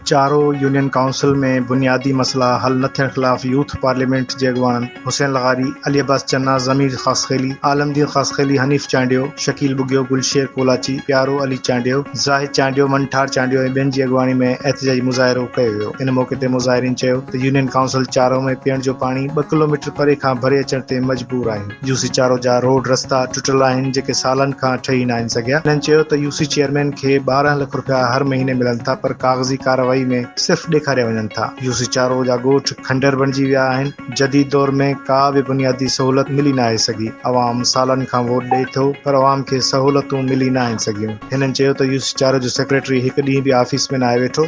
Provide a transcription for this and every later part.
چارو union council ۾ بنيادي مسئلا حل نه ٿيڻ خلاف يوٿ پارليامينٽ جي اڳواڻن حسين لغاري، علي عباس چنا، ضمير خاصخيلي، عالم دين خاصخيلي، حنيف چانڊيو، شڪيل ٻگهيو، گل شير ڪولاچي، پيارو علي چانڊيو، زاهد چانڊيو، منٺار چانڊيو ۽ ٻين جي اڳواڻي ۾ احتجاجي مظاهرو ڪيو ويو. ان موقعي تي مظاهرين چيو ته يونين ڪائونسل چارو ۾ پيئڻ جو پاڻي ٻه ڪلوميٽر پري کان ڀري اچڻ تي مجبور آهيون. يوسي چارو جا روڊ رستا ٽٽل آهن جيڪي سالن کان ٺهي ناهن سگهيا، هنن چيو ته يوسي چيئرمين کي ٻارهن لک رپيا هر مهيني ملن ٿا پر ڪاغذي ڪارروائي ۾ صرف ڏيکاريا وڃن ٿا، يوسي چارو جا ڳوٺ کنڊر بڻجي ويا آهن، جديد دور ۾ ڪا به بنيادي سهولت ملي ناهي سگهي، عوام سالن کان ووٽ ڏئي ٿو پر عوام کي سهولتون ملي ناهن سگهيون، هنن چيو ته يوسي چارو جو سيڪريٽري هڪ ڏينهن به آفيس ۾ ناهي ويٺو.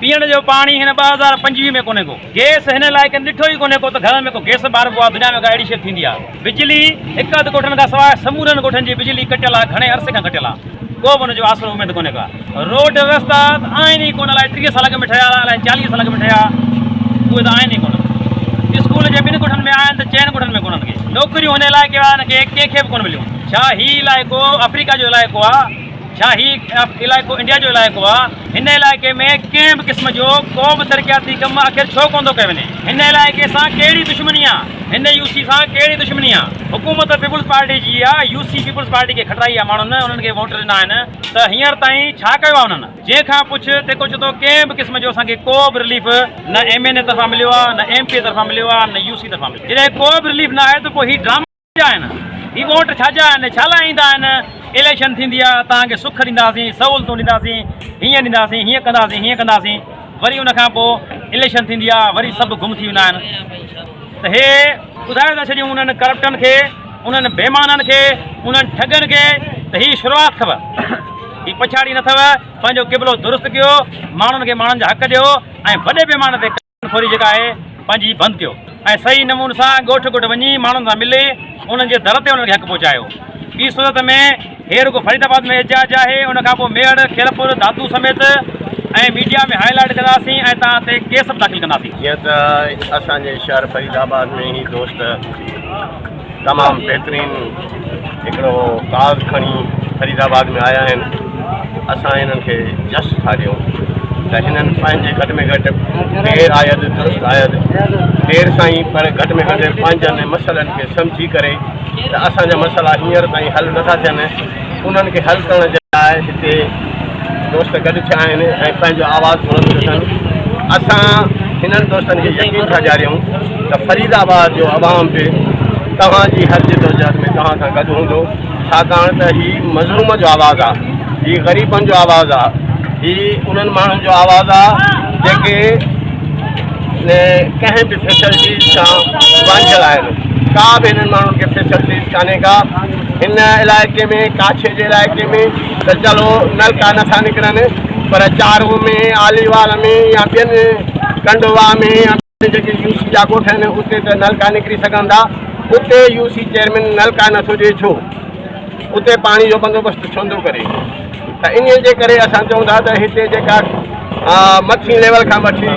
پيئڻ جو پاڻي هن ٻه هزار پنجويهه ۾ ڪونهي ڪو گيس هن لاء ڪنهن ڏٺو ئي ڪونهي ڪو ته گهرن ۾ ڪو گيس ٻاربو آ دنيا ۾ ڪا اهڙي شي ٿيندي آ بجلي هڪ اڌ ڳوٺن کان سواء سمورن ڳوٺن جي بجلي ڪٽيل آ گهڻي عرصي کان ڪٽيل آ ڪو به ان جو آسرو اميد ڪونهي ڪا روڊ رستا ته آهن ئي ڪونه الائي ٽيهه سال اڳ ۾ ٺهيا الائي چاليهه سال اڳ ۾ ٺهيا اهي ته آهن ئي ڪونه اسڪول جي ٻن ڳوٺن ۾ آهن ته چئن ڳوٺن ۾ ڪونهن ڪي نوڪريون هن علائقي وارن کي ڪنهن کي به ڪونه مليون ڇا هي علائقو آفريڪا جو علائقو آ ڇا هي علائقو انڊيا جو علائقو آ. هن علائقي ۾ ڪنهن به قسم جو ڪو به ترقياتي ڪم آخر ڇو ڪونه ٿو ڪيو وڃي؟ هن علائقي سان ڪهڙي دشمني آ؟ هن يو سي سان ڪهڙي دشمني آ؟ حڪومت پيپلز پارٽي جي آ، يو سي پيپلز پارٽي کي کٽرائي آ، ماڻهن انهن کي ووٽ ڏنا آهن ته هينئر تائين ڇا ڪيو آ انهن؟ جنهن کان پڇ، تيکو چئي ٿو ڪنهن به قسم جو اسان کي ڪو به رليف نه ايم اين اي طرفان مليو آ، نه ايم پي اي طرفان مليو آ، نه يو سي طرفان مليو آ. جڏهن ڪو به رليف نه آهي ته پوء هي ڊراما. ڪيا آهن هي ووٽ ڇا جا آهن ڇا لاء ايندا آهن اليڪشن ٿيندي آ توهان کي سک ڏينداسين سهولتون ڏينداسين هيئن ڏينداسين هيئن ڪنداسين هيئن ڪنداسين وري ان کان پوء اليڪشن ٿيندي آ وري سڀ گم ٿي ويندا آهن ته هي ٻڌائي ٿا ڇڏيون انهن ڪرپٽن کي انهن بيمانن کي انهن ٺڳن کي ته هي شروعات اٿو هي پڇاڙي نه اٿو پنهنجو قبلو درست ڪيو ماڻهن کي ماڻهن جا حق ڏيو ۽ وڏي پيماني تي ڦوري جيڪا آهي پنهنجي هي بند ڪيو ۽ صحيح نمون سان ڳوٺ ڳوٺ وڃي ماڻهن سان ملي انهن جي در تي انهن کي حق پهچايو ٻي صورت ۾ هي رڳو فريد آباد ۾ احتجاج آهي ان کان پوء ميهڙ خيرپور دادو سميت ۽ ميڊيا ۾ هاء لائيٽ ڪنداسين ۽ توهان تي ڪيس به داخل ڪنداسين. جيئن ته اسان جي شهر فريد آباد ۾ هي دوست تمام بهترين هڪڙو ساز کڻي فريد آباد ۾ آيا آهن اسان هنن کي جس ٿا ڏيون ته هنن پنهنجي گهٽ ۾ گهٽ دير آيد درست آيد دير سان ئي پر گهٽ ۾ گهٽ پنهنجن مسئلن کي سمجهي ڪري ته اسان جا مسئلا هينئر تائين حل نٿا ٿين انهن کي حل ڪرڻ جي لاء هتي دوست گڏ ٿيا آهن ۽ پنهنجو آواز بلند ٿيو اٿن اسان هنن دوستن کي يقين ٿا ڏياريون ته فريد آباد جو عوام به توهان جي هر جدوجهد ۾ توهان سان گڏ هوندو ڇاڪاڻ ته هي مظلوم جو آواز آهي هي غريبن جو آواز آهي هي انهن ماڻهن جو آواز آهي جيڪي ڪنهن به فيسلٽيز سان وانجهيل آهن ڪا به هنن ماڻهن کي فيسلٽيز ڪانهي ڪا هن علائقي ۾ ڪاڇي جي علائقي ۾ ته چلو نلڪا نه ٿا نڪرن پر چارو ۾ آليوال ۾ يا ٻين ڪنڊوا ۾ يا ٻين جيڪي يو سي جا ڳوٺ آهن اتي ته نلڪا نڪري سگهن ٿا اتي يو سي چيئرمين نلڪا نه ٿو ڏي ڇو اتي پاڻي جو بندوبست ڇو نٿو ڪري ته انهي جي ڪري اسان چئون ٿا ته هتي جيڪا مٿين ليول کان وٺي